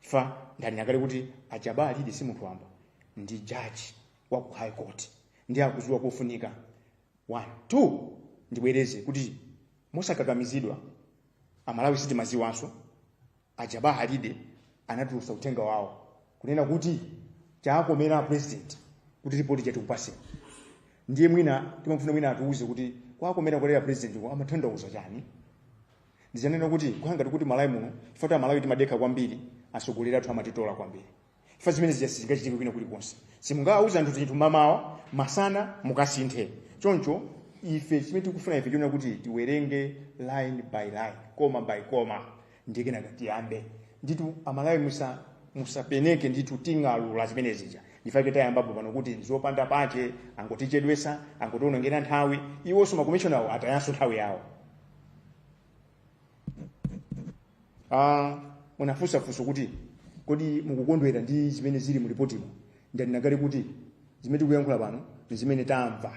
fa ndanena kale kuti ajaba alidi si munthu wamba ndi jaji wa ku high court ndi akuziwa kufunika one two ndibwereze kuti mosakakamizidwa amalawi sitimaziwanso ajaba alidi anatulutsa uthenga wawo kunena kuti chakomera president kuti ripoti chatikupase ndiye mwina timafuna mwina atiuze kuti kwakomera kolera president ko amatanthauza chani ndizanena kuti kukhala ngati ku malawi muno chifukwa kuti amalawi timadekha kwambiri atsogoleri athu amatitola kwambiri chifukwa zimene zija sizingachitike kwina kulikonse simungawauza anthu zinthu mamawa masana mukasinthe choncho ife chimene tikufuna ife chonena kuti tiwerenge line by line koma by koma ndiye kenaka tiyambe nditu amalawi musa musapenekere ndithu ting'alura zimene zija ndi fake tayambapo pano kuti zopanda pache angotichedwesa angotionongera nthawi iwonso makomishona awo atayanso nthawi yawo ah, munafunsa funso kuti kodi mukukondwera ndi zimene zili mu lipotimo ndanena kale kuti zimene tikuyankhula pano ndi zimene tamva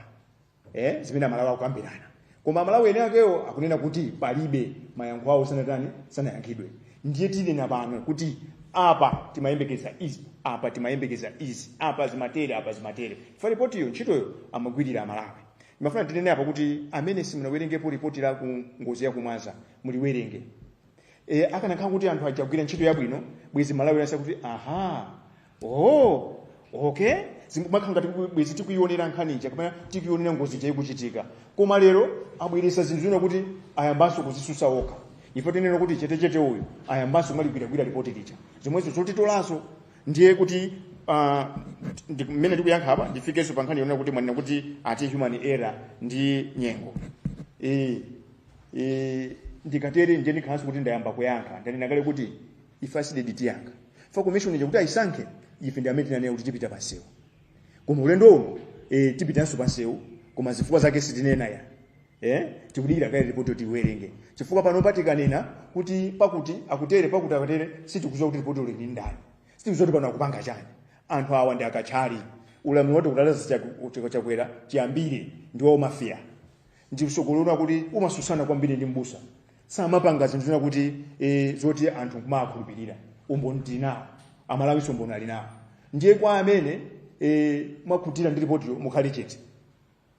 eh, zimene amalawi akukambirana koma amalawi ene akewo akunena kuti palibe mayankho awo sanatani sanayankhidwe ndiye tinena pano kuti apa timayembekeza izi apa timayembekeza izi apa zimatere apa zimatere fa lipotiyo ntchitoyo amagwirira amalawi ndimafuna ndinene apa kuti amene simunawerengepo ripoti la ku ngozi ya kumwaza muliwerenge e, akanakhala kuti anthu aja agwira ntchito yabwino bwezi malawi yonse kuti aha oh, okay zimakhala ngati kuti bwezi tikuonera nkhani ija kapena tikuonera ngozi ija ikuchitika koma lero abweresa zinthu zonena kuti ayambanso kuzisusa okha ife tinena kuti chetechete uyo ayambanso kumaligwiragwira ripoti lija zomwezo zotitolanso ndiye kuti uh, ndi- mmene ndikuyankha apa ndifikenso pa nkhani yonena kuti mwanena kuti ati human error ndi nyengo Eh, eh, ndikatere ndiye ndikhalanso kuti ndayamba kuyankha ndanena kale kuti ife a CDEDI tiyankha fa commission ija kuti ayisankhe ife ndi amene tinanena kuti tipita pansewu koma ulendo uno eh, tipitanso pansewu koma zifukwa zake sitinena ya eh tikudikira kaye ripoti yo tiwerenge chifukwa pano patikanena kuti pakuti akutere pakuti akatere sitikuziwa kuti ripotilo lili ndi ndani sitikuziwa kuti pano akupanga chani anthu awa ndi akathyali ulamuliro wa tikunena za chakwe- chakwera chiyambire ndi wa umafia ndi usogoleri oti umasusana kwambiri ndi mbusa samapanga zinthu zonena kuti eh, zoti anthu kumakhulupirira umboni tili nawo amalawi umboni ali nawo ndiye kwa amene eh, mwakhutira ndi ripotiyo mukhale chete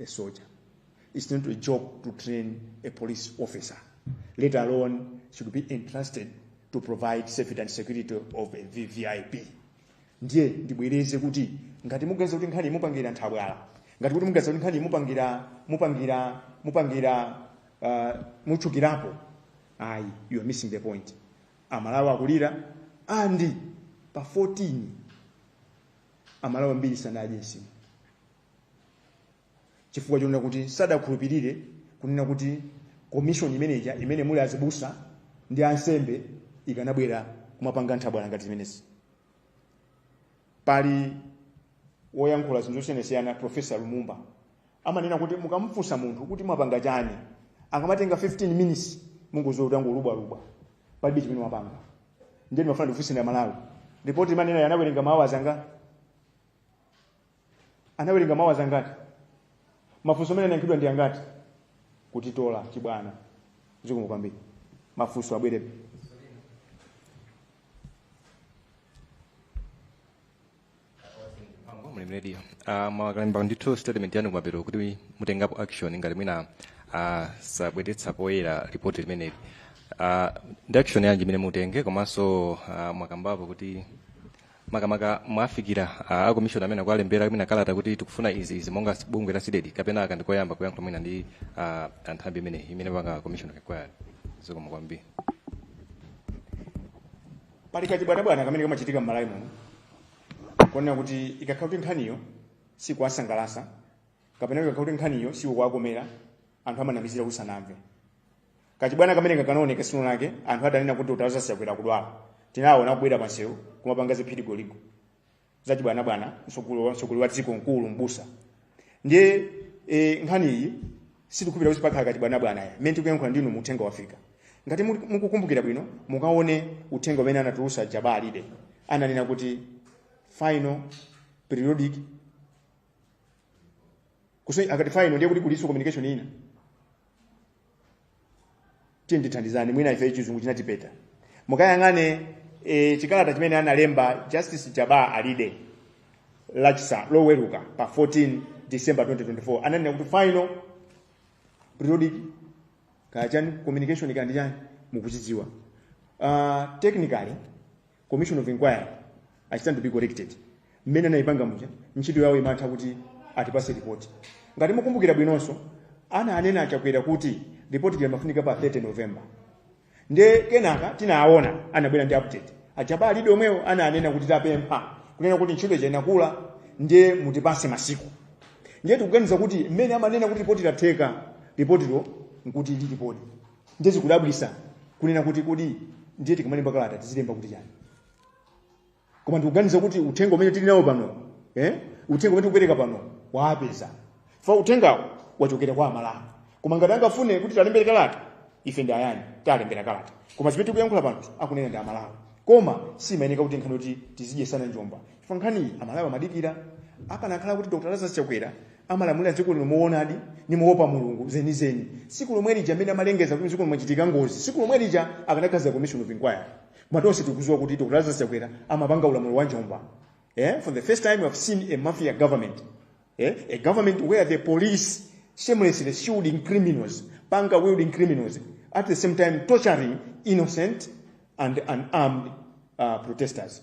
a soldier. It's not a joke to train a police officer, let alone should be entrusted to provide safety and security of a VVIP. ndiye ndibwereze kuti ngati muganiza kuti nkhani mupangira nthabwala ngati kuti muganiza kuti nkhani mupangira mupangira mupangira uh, mutchukirapo ayi you are missing the point amalawi akulira andi pa 14 amalawi ambiri sanadye nsima chifukwa chonena kuti sadakhulupirire kunena kuti komishoni imeneja imene muli azibusa ndi ansembe ikanabwera kumapanga nthabwala ngati zimenezi pali woyankhula zinthu zosiyanasiyana profesa lumumba amanena kuti mukamfunsa munthu kuti mwapanga chani akamatenga 15 minutes mungoziwa kuti angolubwalubwa palibe chimene mwapanga ndiye ndimafuna ndikufunseni amalawi ripoti imene ija anawerenga maawazi anga anawerenga maawazi angati mafunso amene anayankhidwa ndi angati kutitola chibwana zikomo kwambiri mafunso abwere mlimi radio uh, mwakalemba ndithu statement yanu kumapeto kuti mutengapo action ngati mwina uh, sabweretsa poyera ripoti limeneli uh, ndi action yanji imene mutenge komanso uh, mwakambapo kuti makamaka mwawafikira a a commission amene akuwalembera kapena kalata kuti tikufuna izi izi monga s- bungwe la CDEDI kapena aka ndikoyamba kuyankhula mwina ndi ah, anthambi imeneyi imene panga commission kakwayani zikomo kwambiri pali kachibwanabwana kamene kamachitika m'malawi muno konena kuti ikakhala kuti nkhaniyo sikuwasangalasa kapena ikakhala kuti nkhaniyo sikuwakomera anthu amanamizira kusanamve kachibwana kameneka kanaoneka siku lina lake anthu atanena kuti lazarus chakwera akudwala tinaona kubwera pansewu kumapanga ziphirigoligo zachibwanabwana mtsogoleri wa dziko mkulu mbusa ndiye e, nkhani iyi sitikupita kuti pakhala kachibwanabwana ya mmene tikuyankhula ndi inumu uthenga wafika ngati muli- mukukumbukira bwino mukaone uthenga umene anatulusa jabbar alide ananena kuti final periodic kuso akati final ndiye kuti kuliso communication ina tandithandizani mwina ife chizungu chinatipita mukayang'ane e, chikalata chimene analemba justice jabbar alide lachisa loweruka pa 14 december 2024 ananena kuti final periodic kachani communication kaya ndi chani mukuchidziwa uh, technically commission of inquiry I stand to be corrected mmene anayipanga muja ntchito yawo imatha kuti atipase report ngati mukumbukira bwinonso ananena a chakwera kuti report limafunika pa 30 november nde kenaka tinaona anabwera ndi update a jabbar alide omwewo ananena kuti tapempha kunena kuti ntchito ija inakula ndiye mutipase masiku ndiye tikuganiza kuti mmene amanena kuti ripoti latheka ripotilo nkuti lilipodi ndiye zikudabwisa kunena kuti kodi ndiye tikamalemba kalata tizilemba kuti chani koma ndikuganiza kuti uthenga umene tili nawo pano eh? uthenga umene tikupereka pano wawapeza chifukwa uthengawo wachokera kwa amalawi koma ngati angafune kuti tiwalembere kalata ife ndi ayani tiwalembera kalata koma zimene tikuyankhula pano akunena ndi amalawi koma simayenera kuti nkhani kuti tizidyesana njomba chifukwa nkhaniyi amalawi amadikira akanakhala kuti dr lazarus chakwera amalamulira dziko lino mwowonadi ndi moopa mulungu zenizeni siku lomwe lija amene amalengeza kuti dziko limachitika ngozi siku lomwe lija akanakhazika commission of inquiry koma tonse tikuziwa kuti dr lazarus chakwera amapanga ulamuliro wa njomba eh? for the first time we have seen a mafia government eh? a government where the police shamelessly shields criminals panga wielding criminals at the same time torturing innocent and unarmed uh, protesters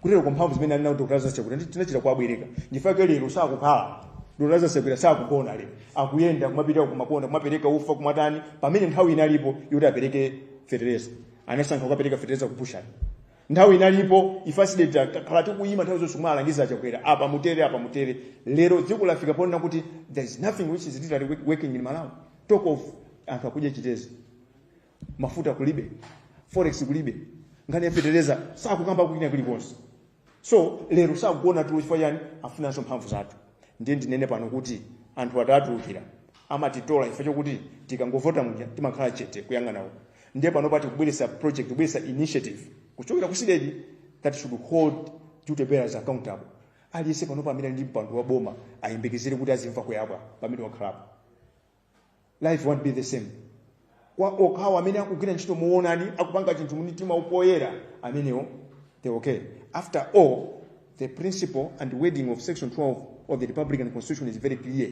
kutero kuti mphamvu zimene ali nawo dr lazarus chakwera tinachita kuwabwereka nchifukwa chake lero sakukhala dr lazarus chakwera sakugona lero akuyenda kumapita kumangoyenda kumapereka ufa kumatani pamene nthawi inalipo yoti apereke fetereza anasankha kukapereka fetereza kuphushani nthawi inalipo ife a cdedi takhala tikuyima nthawi zonse kumalangiza chakwera apa mutere apa mutere lero dziko lafika ponena kuti there is nothing which is literally working in malawi talk of anthu akudya chitedze mafuta kulibe forex kulibe nkhani ya feteleza sakukamba kwina kulikonse so lero sakugona tulo chifukwa chani afunanso mphamvu zathu ndiye ndinene pano kuti anthu atitulukira amatitola chifukwa chokuti tikangovota muja timakhala chete kuyang'ana uko ndiye pano tati tikubweretsa project kubweretsa initiative kuchokera ku cdedi that should hold duty bearers accountable aliyense pano pamene ali ndi mpando wa boma ayembekezere kuti azimva kuyabwa pamene wakhalapo life won't be the same kwa okhawo amene akugwira ntchito muonadi akupanga chinthu mumtima upoyera amenewo they okay after all the principle and wording of section 12 of the republican constitution is very clear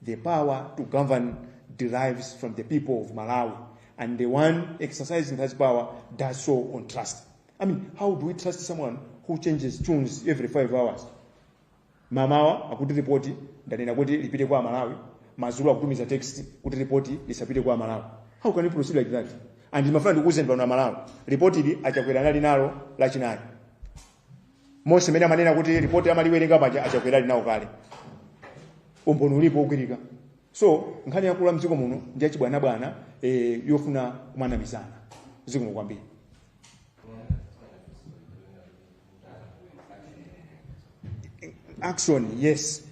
the power to govern derives from the people of malawi and the one exercising that power does so on trust i mean how do we trust someone who changes tunes every five hours Mamawa akuti ripoti ndanena kuti lipite kwa aMalawi, madzulo akutumiza text kuti ripoti lisapite kwa aMalawi. How can you proceed like that? And ndimafuna ndikuwuzeni pano aMalawi, ripoti ili a Chakwera anali nalo Lachinayi. Monse mmene amanena kuti ripoti amaliwerenga paja a Chakwera ali nalo kale. Umboni ulipo wogwirika. So nkhani yakula mdziko muno ndi yachibwanabwana eh, yofuna kumanamizana. Zikomo kwambiri. action yes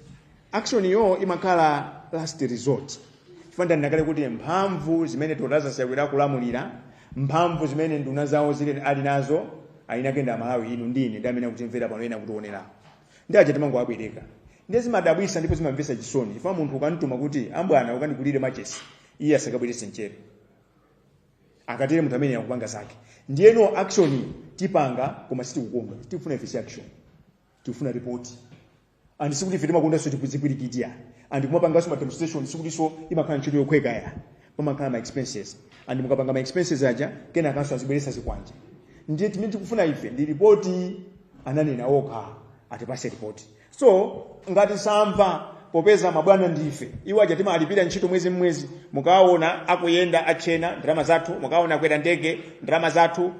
action yo imakhala last resort chifukwa ndanena kale kuti mphamvu zimene Dr. Lazarus Chakwera akulamulira mphamvu zimene nduna zawo zili nazo eni ake ndi amalawi inu ndine ndi amene akutimvera pano ena akutionera ndiye aja timangowabwereka ndiye zimadabwisa ndipo zimamvesa chisoni chifukwa munthu ukamtuma kuti mwana ukandigulire machesi iye asakabwerese mchere akatero ndi munthu amene akupanga zake ndiyeno action tipanga koma sitikukonda tikufuna ife si action tikufuna report and sikuti ife timakondanso tizipwirikiti and kumapanganso ma demonstration sikutinso imakhala ntchito yophweka ya pamakhala ma expenses and mukapanga ma expenses aja kenakanso azibweresa zikwanje ndiye chimene tikufuna ife ndi ripoti ananena okha atipase ripoti so ngati samva popeza mabwana ndife iwo aja timalipira ntchito mwezi mmwezi mukaona akuyenda atchena ndalama zathu mukaona akwera ndege ndalama zathu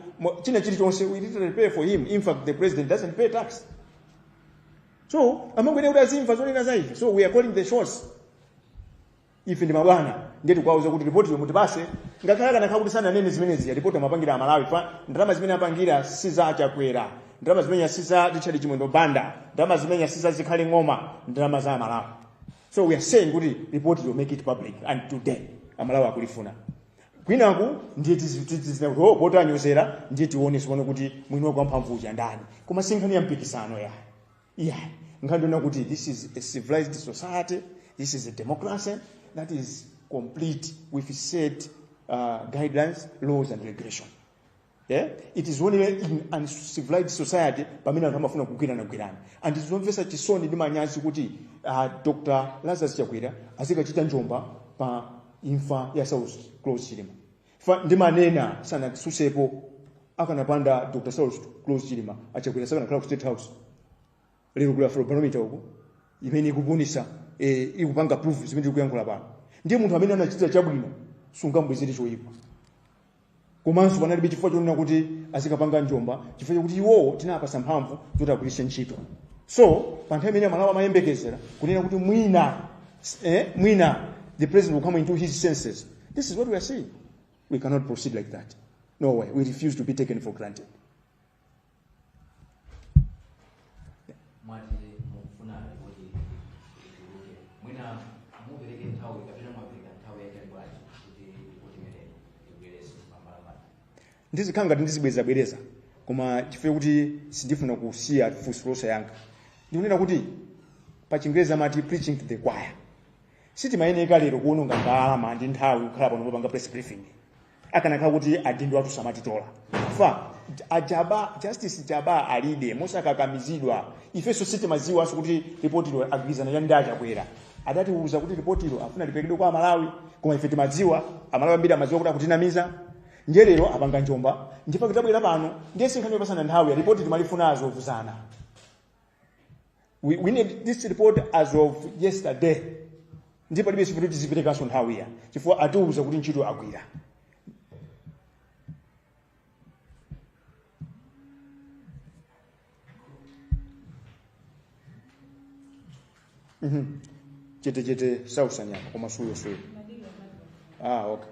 china chilichonse we literally pay for him in fact the president doesn't pay tax so amayenera kuti azimva zonena za ife so we are calling the shots ife ndi mabwana ndiye tikuwauza kuti ripotiyo mutipase ngakhale akanakhala kuti sananene zimenezi ripoti amapangira amalawi chifukwa ndalama zimene apangira si za achakwera ndalama zimenezija si za richard chimwendo banda ndalama zimenezija si za zikhale ng'oma ndalama za amalawi so we are saying kuti report will make it public and today amalawi akulifuna kwinaku ndiye tizi- tizi- tizinena kuti oh poti anyozera ndiye tionetsane pano kuti mwini wake wamphamvu uja ndani koma sinkhani ya mpikisano ya yeah nkhani ndi yonena kuti this is a civilized society this is a democracy that is complete with set uh, guidelines laws and regulation yeah? it is only in uncivilized society pamene anthu amafuna kugwirana gwirana and ndi zomvetsa chisoni ndi manyazi kuti uh, dr lazarus chakwera azikachita njomba pa imfa ya saulos klaus chilima ndimanena sanatsutsepo akanapanda Dr. Saulos Klaus Chilima achakwera sakanakhala ku State House. Lero kuli Afrobarometer uko imene ikupunisa eh, ikupanga proof zimene tikuyankhula pano. Ndiye munthu amene anakuchitira chabwino sungambwezere choyipa. Komanso panalibe chifukwa chonena kuti azikapanga njomba chifukwa chakuti iwowo tinawapasa mphamvu zoti agwiritse ntchito. So pa nthawi imene amalawi amayembekezera kunena kuti mwina eh, mwina the president will come into his senses This is what we are saying. We cannot proceed like that. No way. We refuse to be taken for granted. mwati mukufuna kuti ituluke mwina mupereke nthawi kapena mwapereka nthawi yaitali bwanji kuti kuti imeneyo ibwere pambalambala ndizikhala ngati ndizibwerezabwereza koma chifukwa kuti sindifuna kusiya funso losayankha ndikunena kuti pa chingerezi amati preaching to the choir sitimayeneka lero kuononga ndalama ndi nthawi kukhala pano kupanga press briefing akanakhala kuti adindo athu samatitola a Jabbar Justice Jabbar Alide mosakakamizidwa ifenso sitimadziwanso kuti ripotilo agwirizana ya ndi a Chakwera adatiuza kuti ripotilo afuna lipekedwe kwa amalawi koma ife timadziwa amalawi ambiri amadziwa kuti akutinamiza ndiye lero apanga njomba n'chifukwa tabwera pano ndiye sinkhani yopatsana nthawi ya ripoti timalifuna dzulo dzana we, we need this report as of yesterday ndipo palibe chifukwa tiziperekanso nthawi ya chifukwa atiwuza kuti ntchito agwira Mhm. chetechete sautsa nyama koma suyo suyo ah okay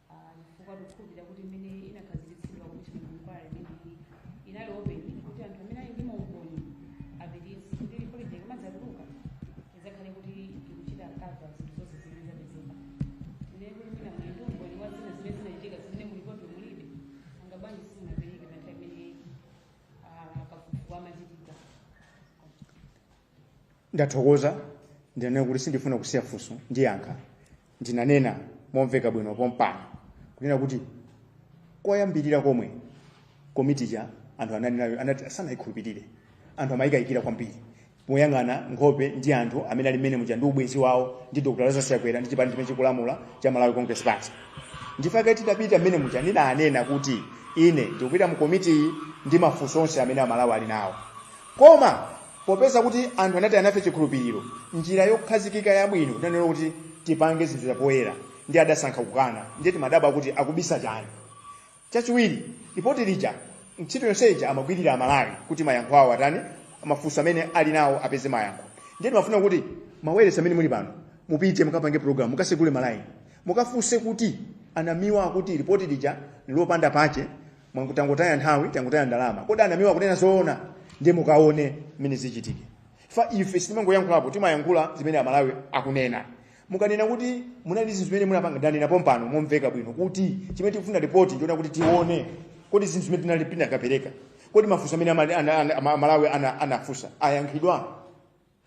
chifukwa tikukhulupirira kuti imene inakhazikitsidwa kuti inquiry imeneyi inali open kuti anthu amene ali ndi maumboni apititse kuti ripotiyo ikamadzatuluka idzakhale kuti ikuchita kava zinthu zonse zimene zapezeka tinene kuti mwina muli ndi umboni wa zina zimene zinachitika zimene mu ripoti mulibe nanga bwanji simunapereke pa nthawi imene ah, kafukufuku amachitika ndathokoza ndinanena kuti sindifuna kusiya funso ndiyankha ndinanena momveka bwino pompano kunena kuti koyambirira komwe komiti ja anthu ananena kuti sanayikhulupirire anthu amayikayikira kwambiri moyang'ana nkhope ndi anthu amene ali mmene muja ndi ubwenzi wawo ndi dr lazarus chakwera ndi chipani chimene chikulamula cha malawi congress party nchifukwa chake titapita mmene muja ndinanena kuti ine ndikupita mu komitiyi ndi mafunso onse amene amalawi ali nawo Koma, popeza kuti anthu anataya nafe chikhulupiriro, njira yokhazikika yabwino kunena kuti tipange zinthu zapoyera ndiye adasankha kukana, ndiye timadabwa kuti akubisa chani. Chachiwiri, lipoti lija ntchito yonse ija amagwirira Amalawi kuti mayankho awo atani, mafunso amene ali nawo apeze mayankho. Ndiye timafuna kuti mawailesi amene muli pano mupite mukapange program, mukasegule malaini, mukafunse kuti a Namiwa akuti lipoti lija n'lopanda pache, mwangoti tangotaya nthawi tangotaya ndalama kodi a Namiwa akunena zoona ndiye mukaone mmene zichitike chifukwa ife sitimangoyankhulapo timayankhula zimene amalawi akunena mukanena kuti munali zinthu zimene munapanga ndanena pompano momveka bwino kuti chimene tikufuna ripoti ndilo kuti tione kodi zinthu zimene tinali tinakapereka kodi mafunso amene amali- ana- ana- ama- amalawi ana- anafunsa ayankhidwa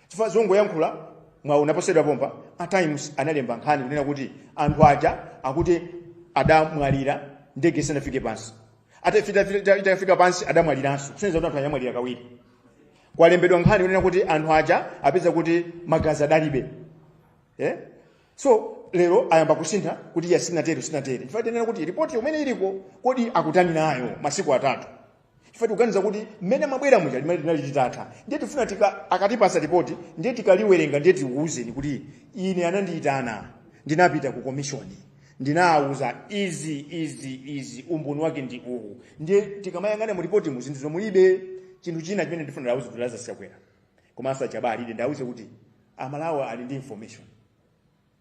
chifukwa zongoyankhula mwawu unaponyedwa pompa a times analemba nkhani kunena kuti anthu aja akuti adamwalira ndege isanafike pansi atafika itafika pansi adamwaliranso kusonyeza kuti anthu aja amwalira kawiri kwalembedwa nkhani kunena kuti anthu aja apeza kuti magazi adalibe eh? so lero ayamba kusintha kuti iyayi sitinatero sitinatero chifukwa tinena kuti ripoti imene iliko kodi akutani nayo masiku atatu ife tikuganiza kuti mmene mwabwera muja limene linali litatha ndiye tifuna tika akatipasa ripoti ndiye tikaliwerenga ndiye tikuwuzeni kuti ine anandiyitana ndinapita ku komishoni ndinawuza izi izi izi umboni wake ndi uwu ndiye tikamayang'ana mu ripoti mu zinthu zomulibe chinthu china chimene ndifuna ndawuze kuti Lazarus Chakwera komanso a Jabbar Alide ndawuze kuti amalawi ali ndi information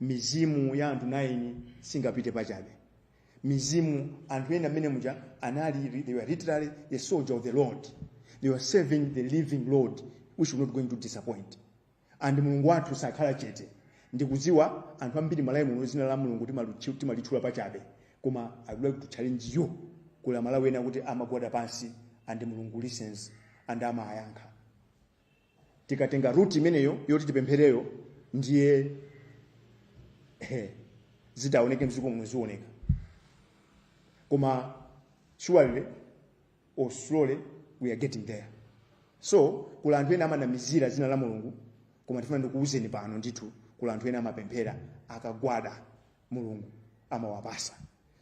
mizimu ya anthu 9 singapite pachabe mizimu anthu ena amene munali they were literally the soldier of the lord they were serving the living lord which was not going to disappoint and mulungu wathu sakhala chete ndikudziwa anthu ambiri malawi muno dzina la mulungu timalu- timalitchula pachabe koma i would like to challenge you kuli amalawi ena kuti amagwada pansi and mulungu listens and amayankha tikatenga ruti imeneyo yoti tipemphereyo ndiye eh, zitaoneke mziko muno zioneka koma surely or slowly we are getting there so kuli anthu ena amanamizira dzina la mulungu koma tifuna ndikuwuzeni pano ndithu kuli anthu ena amapemphera akagwada mulungu amawapatsa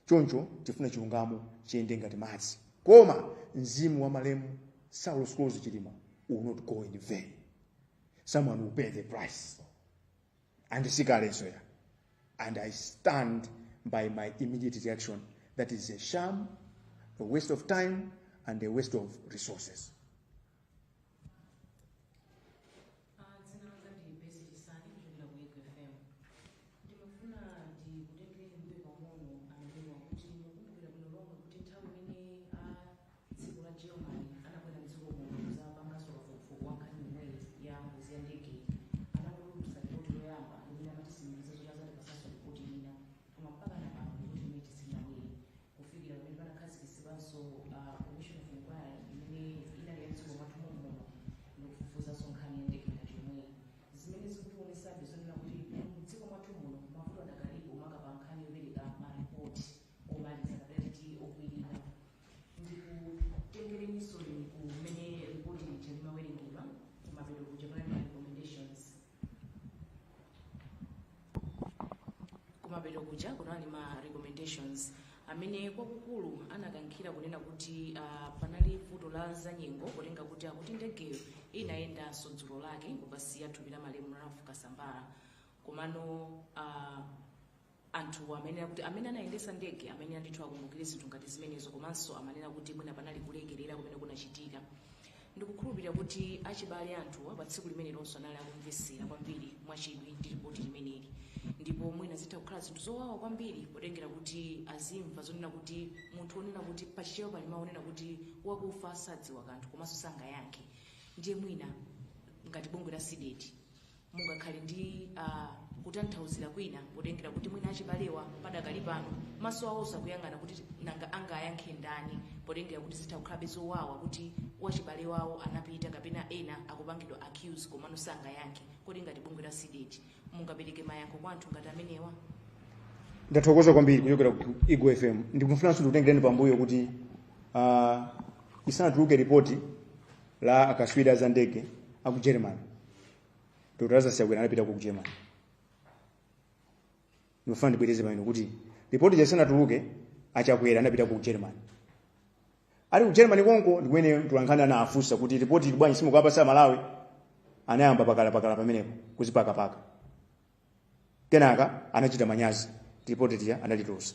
choncho tifuna chilungamo chiyende ngati madzi koma mzimu wa malemu saulos klaus chilima will not go in vain someone will pay the price and si kalenso ya and i stand by my immediate reaction that is a sham a waste of time and a waste of resources Dzina langa ndi Besi Chisani kuchokera ku Ego FM. Ndimafuna ndikutengereni mbuyo pang'ono aMalawi kuti mukumbukira bwino lomwe kuti nthawi imene a dziko la Germany anabwera mdziko muno kuzapanganso kafukufuku wa nkhani yomweyi ya ngozi ya ndege anatulutsa ripoti yoyamba imene amatitsimikizira kuti azatipasanso ripoti ina koma mpaka napano ripoti imene isinabwere kufikira pamene panakhazikitsidwanso uh, commission of inquiry imene inali ya mdziko mwathu mommuno ndikufufuzanso nkhani ya ndege yomweyi zimene zikutionetsabe zonena kuti mdziko mwathu muno mavuto adakalipo maka pa nkhani yopereka maripoti omaliza kapena titi okwanira ndikutengereninso mmene ripoti lija limawerengedwa kumapeto kuja panali ma recommendations kumapeto kuja kunali ma recommendations amene kwakukulu anakankhira kunena kuti ah, panali vuto la zanyengo kutengera kuti akuti ndegeyo inayendanso dzulo lake kukasiya thupi la malemu ralph kasambara komano ah, anthuwo amayenera kuti amene anayendesa ndege amayenera ndithu akumbukire zinthu ngati zimenezo komanso amanena kuti mwina panali kulekerera kumene kunachitika ndikukhulupirira kuti achibale anthuwa pa tsiku limenelonso anali akumvesera kwambiri mwachidwi ndi ripoti limeneli ndipo mwina zitha kukhala zinthu zowawa kwambiri potengera kuti azimva zonena kuti munthu onena kuti pachichewa pali mawu onena kuti wakufa sadziwa kanthu komanso sangayankhe ndiye mwina ngati bungwe la CDEDI Mungakhale ndi kutanthauzira kwina potengera kuti mwina achibalewa padakali pano maso awo akuyang'ana kuti nanga angayankhe ndani potengera kuti zitha kukhalabe zowawa kuti wachibale wawo anapita kapena ena akupangidwa accuse komano sangayankhe kodi ngati bungwe la CDEDI mungapereke mayankho kwa anthu ngati amenewa ndathokoza kwambiri kuchokera ku Eagle FM ndikufunanso ndikutengereni pambuyo kuti uh, isanatuluke ripoti la akaswiri a za ndege a ku germany dr lazarus chakwera anapita ku germany ndifuna ndibwereze pamene kuti ripoti lisanatuluke achakwera anapita ku germany ali ku germany konko ndikumene mtulankhani anafunsa kuti ripoti ili bwanji simukuwapatsa amalawi anayamba pakalapakala pamenepo kuzipakapaka kenaka anachita manyazi ripoti lija analitulusa